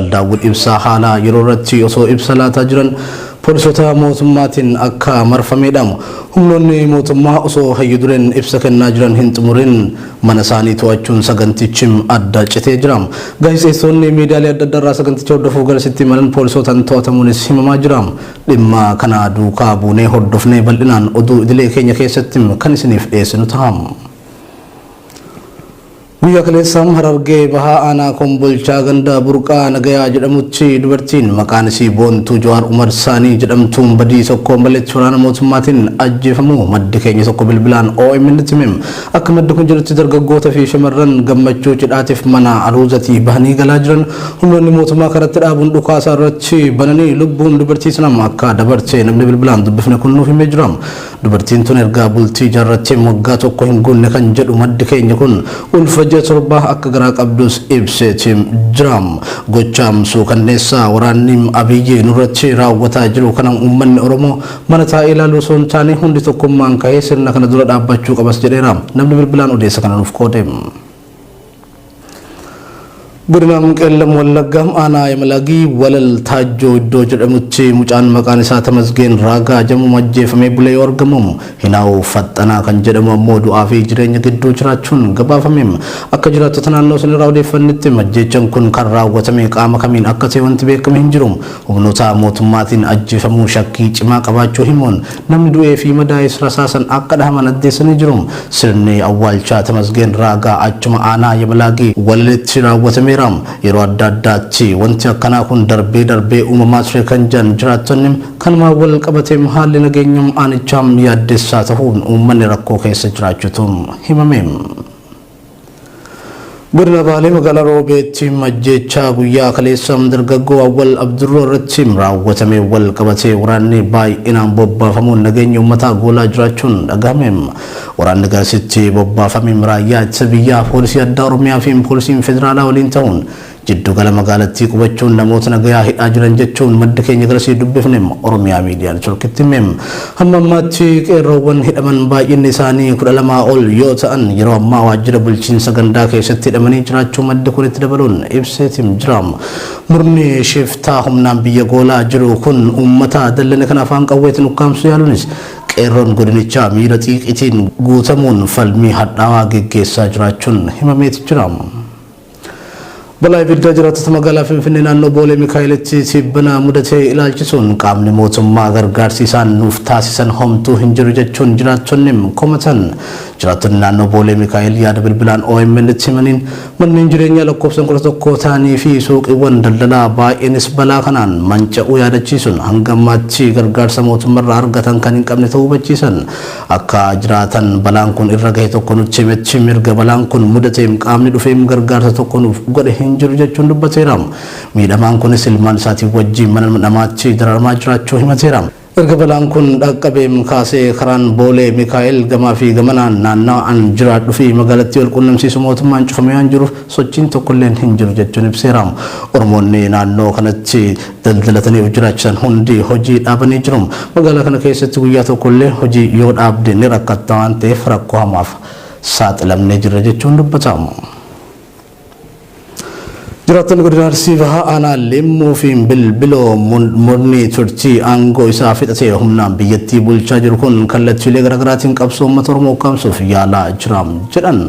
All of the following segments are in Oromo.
Daawud Ibsaa haala yeroo irratti osoo ibsa laataa jiran poolisoota mootummaatiin akka marfame hidhamu. Humnoonni mootummaa osoo hayyu dureen ibsa kennaa jiran hin xumurin mana isaanii to'achuun sagantichi adda citee jira. Gaazexeessitoonni miidiyaalee adda addaarraa saganticha hordofuuf garasitti imalan poolisootaan to'atamuunis himamaa jira. Dhimma kana duukaa buunee hordofnee bal'inaan oduu idilee keenya keessatti kan isiniif dhiyeessinu taha. Guyyaa kaleessaa Harargee Bahaa Aanaa Kombolchaa ganda Burqaa Nagayaa jedhamutti dubartiin maqaan isii Boontuu Jawaar Umar Saanii jedhamtuun badii tokko maletti waraana mootummaatiin ajjeefamuu maddi keenya tokko bilbilaan OMNtti hime. Akka maddi kun jedhutti dargaggoota fi shamarran gammachuu cidhaatiif mana aruuzatii bahanii galaa jiran humnoonni mootummaa karatti dhaabuun dhukaasa irratti bananii lubbuun dubartii sanaa akka dabarte namni bilbilaan dubbifne kun nuuf himee jira. Dubartiin tun erga bultii ijaarratteen waggaa tokko hin guunne kan jedhu maddi keenya kun, ulfa ji'a torbaa akka garaa qabdus ibseeti jira. Gocha suukanneessaa waraanni Abiyyi nurratti raawwataa jiru kana uummanni Oromoo mana taa'ee ilaaluu osoo hin taane hundi tokkummaan ka'ee sirna kana dura dhaabbachuu qabas jedheera namni bilbilaan odeessa kana nuuf qoode. Godina Qeellam Wallaggaa aanaa Yamalagii Walal Taajjoo iddoo jedhamutti mucaan maqaan isaa Tamasgeen Raagaa jedhamu ajjeefamee bulee yoo argamu Hinaawu Faxxanaa kan jedhamu ammoo du'aa fi jireenya gidduu jiraachuun gabaafame. Akka jiraattota naannoo sanirraa odeeffannetti ajjeechaan kun kan raawwatame qaama kamiin akka ta'e wanti beekame hin jiru. Humnoota mootummaatiin ajjeefamuu shakkii cimaa qabaachuu himuun Namni du'ee fi madaa'es rasaasan akka dhahaman addeessanii jiru. Sirni awwaalchaa Tamasgeen Raagaa achuma aanaa Yabalaagii Walaleetti raawwatameera. Yeroo adda addaatti wanti akkanaa kun darbee darbee uumamaa ture kan jedhan jiraattonni, kanumaan wal qabateem haalli nageenya aanichaa yaaddessaa tahuun uummanni rakkoo keessa jiraachutu himame. Godina Baalee magaalaa Roobeetti ajjeechaa guyyaa kaleessa dargaggoo Awwal Abdurroo irratti raawwatame wal qabatee waraanni baay'inaan bobbaafamuun nageenya uummataa goolaa jiraachuun dhagahame. Waraanni garasitti bobbaafame raayyaa ittisa biyyaa, poolisii addaa Oromiyaa fi poolisiin federaalaa waliin ta'uun Jiddugala magaalattii qubachuun namoota nagayaa hidhaa jiran jechuun maddi keenya garasii dubbifne Oromiyaa Miidiyaa Networkitti hime. Hamma ammaatti qeerroowwan hidhaman baay'inni isaanii 12 ol yoo ta'an yeroo ammaa waajjira bulchiinsa gandaa keessatti hidhamanii jiraachuu maddi kun itti dabaluun ibseetim jira. Murni shiftaa humnaan biyya goolaa jiru kun uummata dallane kana afaan qawweetiin ukkaamsuu yaaluunis qeerroon godinichaa miira xiiqiitiin guutamuun falmii hadhaawaa geggeessaa jiraachuun himameeti jira. Balaa ibiddaa jiraattota magaalaa Finfinnee naannoo Boolee Mikaa'elitti tibbana mudate ilaalchisuun qaamni mootummaa gargaarsi isaan nuuf taasisan homtuu hin jiru jechuun jiraattonni komatan. Jiraattonni naannoo Boolee Mikaa'el yaada bilbilaan OMN itti himaniin manneen jireenyaa lakkoofsan 11 ta'anii fi suuqiiwwan daldalaa baay'eenis balaa kanaan manca'uu yaadachiisuun hanga ammaatti gargaarsa mootummarraa argatan kan hin qabne ta'uu hubachiisan. Akka jiraatan balaan kun irra gahe tokko nutti himetti. Mirga balaan kun mudateem qaamni dhufeem gargaarsa tokko nuuf godhe hin jiru jechuun dubbateera. Miidhamaan kunis ilmaan isaatii wajjiin mana namaatti dararamaa jiraachuu himateera. Erga balaan kun dhaqqabeem kaasee karaan Boolee Mikaa'el gamaa fi gamanaan naannawa an jiraadhu fi magaalattii wal quunnamsiisu mootummaan cufamee waan jiruuf sochiin tokkolleen hin jiru jechuun ibseera. Oromoonni naannoo kanatti. daldalatanii of jiraachisan hundi hojii dhaabanii jiru. Magaalaa kana keessatti guyyaa tokko illee hojii yoo dhaabde ni rakkatta waan ta'eef rakkoo hamaaf saaxilamnee jirra jechuun dubbata. Jiraattonni godina Arsii Bahaa aanaa Limmuu fi Bilbiloo murni turtii aangoo isaa fixatee humnaan biyyattii bulchaa jiru kun kallattiilee garaagaraatiin qabsoo uummata Oromoo ukkaamsuuf yaalaa jira jedhan.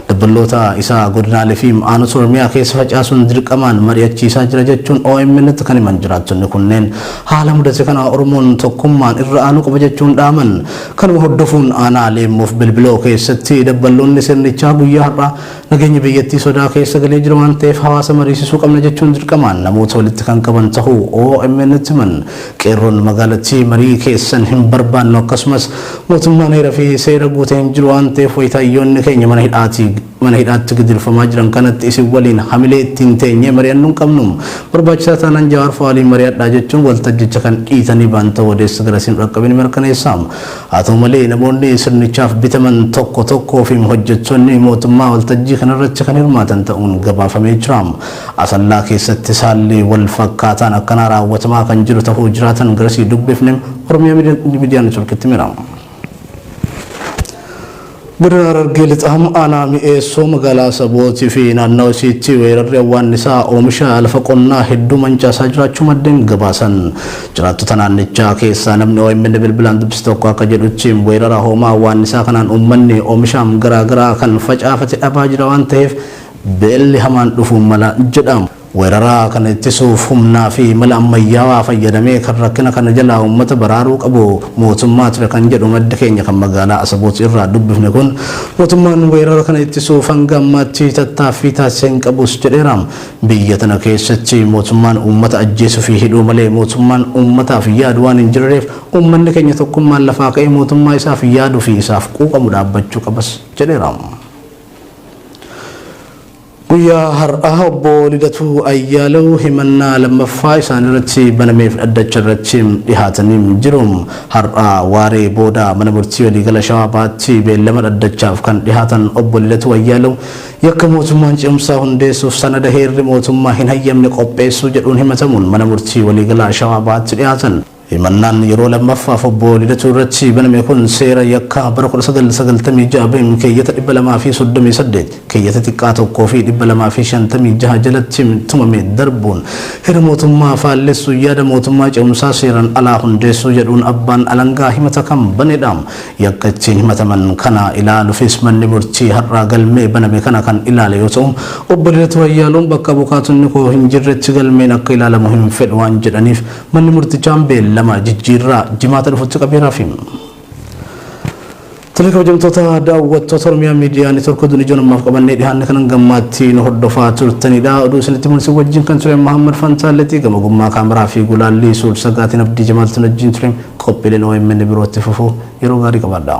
Dabballoota isaa godinaalee fi aanota Oromiyaa keessa facaasuun dirqamaan mari'achiisaa jira jechuun OMNtti kan himan jiraattonni kunneen haala mudate kana Oromoon tokkummaan irra aanuu qaba jechuun dhaaman. Kanuma hordofuun aanaa Leemmoof Bilbiloo keessatti dabballoonni sirnichaa guyyaa har'aa nageenyi biyyattii sodaa keessa galee jira waan ta'eef hawaasa mariisisuu qabna jechuun dirqamaan namoota walitti kan qaban tahuu OMNtti himan. Qeerroon magaalattii marii keessan hin barbaannu akkasumas mootummaan heera fi seera guute hin jiru waan ta'eef wayita hayyoonni keenya mana hidhaatii mana hidhaatti gidirfamaa jiran kanatti isin waliin hamilee ittiin teenyee mari'annu hin qabnu. Barbaachisaa taanaan Jawaar fa'aa waliin mari'adhaa jechuun waltajjicha kan dhiitanii ba'an ta'uu odeessi garasiin dhaqqabe ni mirkaneessa. Haa ta'u malee namoonni sirnichaaf bitaman tokko tokkoo fi hojjettoonni mootummaa waltajjii kanarratti kan hirmaatan ta'uun gabaafamee jira. Asallaa keessattis haalli wal fakkaataan akkanaa raawwatamaa kan jiru tahuu jiraatan garasii dubbifne Oromiyaa Miidiyaa Networkitti himeera. Godina Harargee Lixaa aanaa Mi'eessoo magaalaa Asabootii fi naannawa isiitti weerarri awwaannisaa oomisha lafa qonnaa hedduu mancaasaa jiraachuu maddeen gabaasan. Jiraattota naannichaa keessaa namni OMN bilbilaan dubbise tokko akka jedhutti weerara hoomaa awwaannisaa kanaan uummanni oomishaam garaagaraa kan facaafate dhabaa jira waan ta'eef Beelli hamaan dhufuu mala jedha. Weerara kana ittisuuf humnaa fi mala ammayyaawaa fayyadamee kan rakkina kana jalaa uummata baraaruu qabu mootummaa ture kan jedhu maddi keenya kan magaalaa Asaboot irraa dubbifne kun, mootummaan weerara kana ittisuuf hanga ammaatti tattaaffii taasise hin qabus jedheera. Biyya tana keessatti mootummaan uummata ajjeesuu fi hidhuu malee mootummaan uummataaf yaadu waan hin jirreef uummanni keenya tokkummaan lafaa ka'ee mootummaa isaaf yaaduu fi isaaf quuqamu dhaabbachuu qabas jedheera. Guyyaa har'aa obbo Lidatuu Ayyaalew himannaa lammaffaa isaanirratti banameef dhaddacharratti dhihaatanii jiru. Har'a waaree booda mana murtii waliigala Shawaa Bahaatti beellama dhaddachaaf kan dhihaatan obbo Lidatuu Ayyaalew yakka mootummaan ce'umsaa hundeessuuf sanada heerri mootummaa hin hayyamne qopheessuu jedhuun himatamuun mana murtii waliigalaa Shawaa Bahaatti dhihaatan. Himannaan yeroo lammaffaaf Obbo Lidatuu irratti baname kun seera yakkaa bara 1996 bem keeyyata 238, keeyyata xiqqaa 1 fi 256 jalatti tumame darbuun heera mootummaa faallessuun yaada mootummaa ce'umsaa seeraan alaa hundeessuu jedhuun abbaan alangaa himata kan banedha. Yakka ittiin himataman kana ilaalufis manni murtii har'a galmee baname kana kan ilaale yoo ta'u, Obbo Lidatuu Ayyaaloon bakka abukaatonni koo hin jirretti galmeen akka ilaalamu hin fedhu waan jedhaniif, Manni murtichaan beellama jijjiirraa jimaata dhufutti qabeeraafi. Tole kabajamtoota daawwattoota Oromiyaa Miidiyaa Neetwork oduun ijoon ammaaf qabannee dhihaanne kanan gammaatti nu hordofaa turtanidha. Oduu isinitti muun isin wajjin kan ture Mahammad Fantaalleetii gama ogummaa kaameraa fi gulaallii suur sagaatiin Abdii Jamaaltiin wajjin ture qophiileen OMN birootti fufu yeroo gaarii qabaadha.